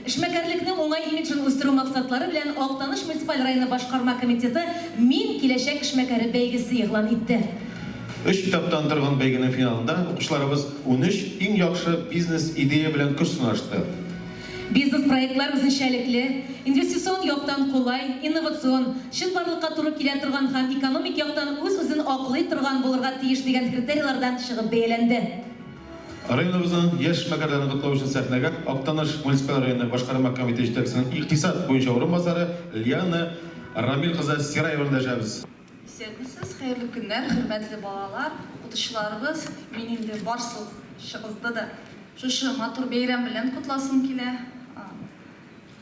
Эшмәкәрлекнең уңай имиджын үстерү максатлары белән Актаныш муниципаль районы башкарма комитеты Мин, киләчәк эшмәкәре бәйгесе игълан итте. Өч этаптан торган бәйгенең финалында укучыларыбыз унөч иң яхшы бизнес-идея белән көч сынашты. Бизнес-проектлар үзенчәлекле, инвестицион яктан кулай, инновацион, чынбарлыкка туры килә торган һәм экономик яктан үз-үзен аклый торган булырга тиеш дигән критерийлардан чыгып бәяләнде. Районыбызның яшь эшмәкәрләрен котлау өчен сәхнәгә Актаныш муниципаль районы башкарма комитеты җитәкчесенең икътисад буенча урынбасары Лиана Рамил кызы Сираеваны дәшәбез. Исәнмесез, хәерле көннәр, хөрмәтле балалар, укытучыларыбыз! Мин инде барсыгызды да шушы матур бәйрәм белән котласым килә.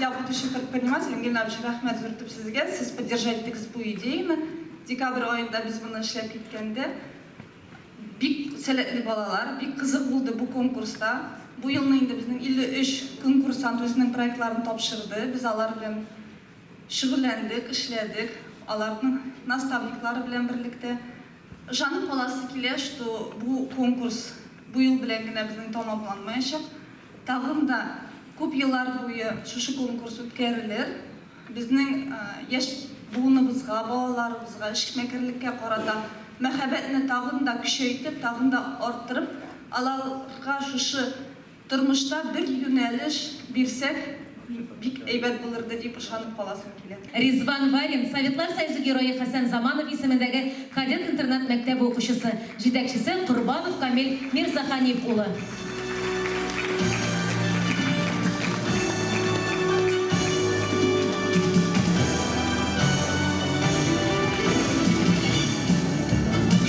для будущих предпринимателей. Ангелина Абич, рәхмәт зур итеп сезгә. Сез поддержать итегез бу идеяны. Декабрь аенда без моны эшләп киткәндә бик сәләтле балалар, бик кызык булды бу конкурста. Бу елны инде безнең 53 конкурсант үзенең проектларын тапшырды. Без алар белән шөгыльләндек, эшләдек. Аларның наставниклары белән берлектә Ышанып каласы килә, что бу конкурс бу ел белән генә безнең тамамланмаячак. Тагын да күп еллар буе шушы конкурс үткәрелер. Безнең яшь буыныбызга, балаларыбызга эшмәкәрлеккә карата мәхәббәтне тагын да көчәйтеп, тагын да арттырып, аларга шушы Тормышта бер юнәлеш бирсәк, бик әйбәт булырды дип ышанып каласым килә. Ризван Варин, Советлар Союзы Герое Хәсән Заманов исемендәге кадет-интернат мәктәбе укучысы, җитәкчесе Корбанов Камил Мирзаханиф улы.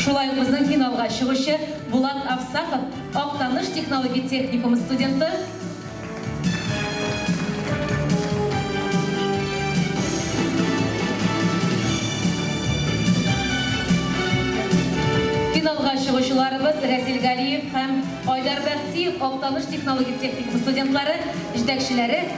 Шулай ук безнең финалга чыгучы Булат Авсапов, Актаныш технологик техникумы студенты. Финалга чыгучыларыбыз Рәзил Галиев һәм Айдар Бәхтиев Актаныш технологик техникумы студентлары, җитәкчеләре.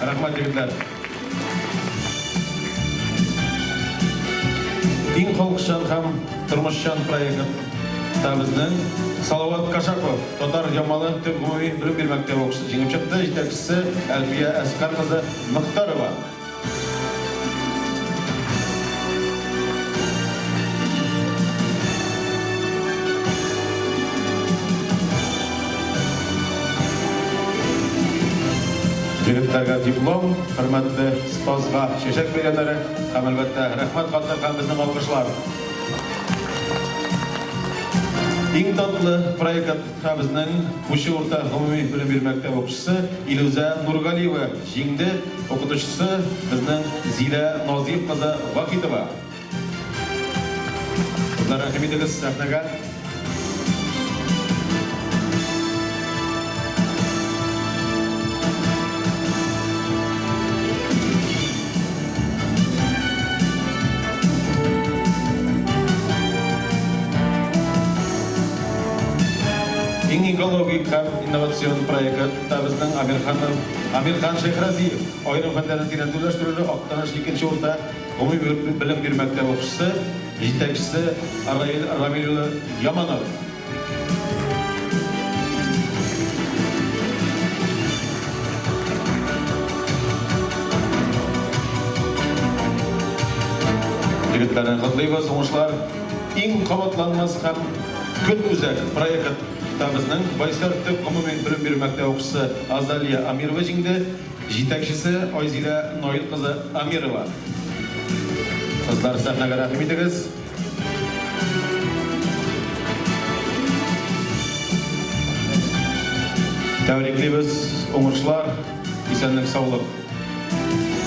Рәхмәт, егетләр! Иң халыкчан һәм тормышчан проект та безнең Салават Кашапов, Татар Ямалы төп гомуми белем бирү мәктәбе укучысы җиңеп чыкты, җитәкчесе Әлфия Әскар кызы Мохтарова. Егетләргә диплом, хөрмәтле спазга чәчәк бәйрәмнәре һәм әлбәттә рәхмәт хатлар һәм безнең алкышлар. Иң татлы проектка безнең Кучы урта гомуми белем бирү мәктәбе укучысы Илүзә Нургалиева Җиңде, укытучысы, безнең Зилә Назыйф кызы Вахитова. Кызлар, рәхим итегез сәхнәгә. Иң экологик һәм инновацион проекы. Табызның Амир ханның Амир хан Шәйхразиев, аерым фәннәрне тирәнтүләштерүле Актаныш икенче урта гомуми белем бирү мәктәбе укучысы, җитәкчесе Раил Рамил улы Яманов. Егетләрне котлыйбыз, уңышлар! Иң кабатланмас һәм көнүзәк проект. Китабызның Байсар төп гомуми белем бирү мәктәбе укучысы Азалия Амирова җиңде, җитәкчесе Айзилә Наил кызы Амирова. Кызлар, сәхнәгә рәхим итегез. Тәбриклибез, уңышлар, исәнлек-саулык.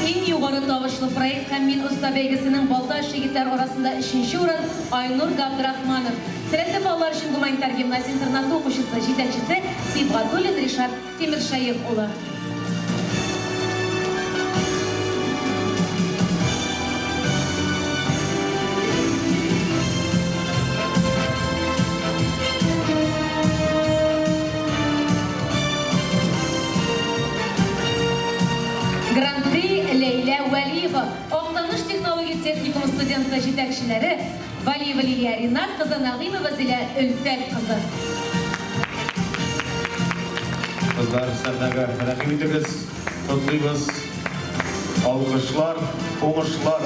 Иң югары тавышлы проект һәм Мин оста бәйгесенең Балтач егетләр арасында өченче урын Айнур Габдрахманов, сәләтле балалар өчен гуманитар гимназия-интернаты укучысы, җитәкчесе Сибгатуллин Ришат Тимершәех улы. Гран-при Ләйлә Вәлиева Актаныш технологик техникумы студенты җитәкчеләре Вәлиева Лилия Ринат кызы Нәгыймова Зилә Өлфәт кызы. Кызлар сәхнәгә рәхим итегез, котлыйбыз. Алкышлар, уңышлар!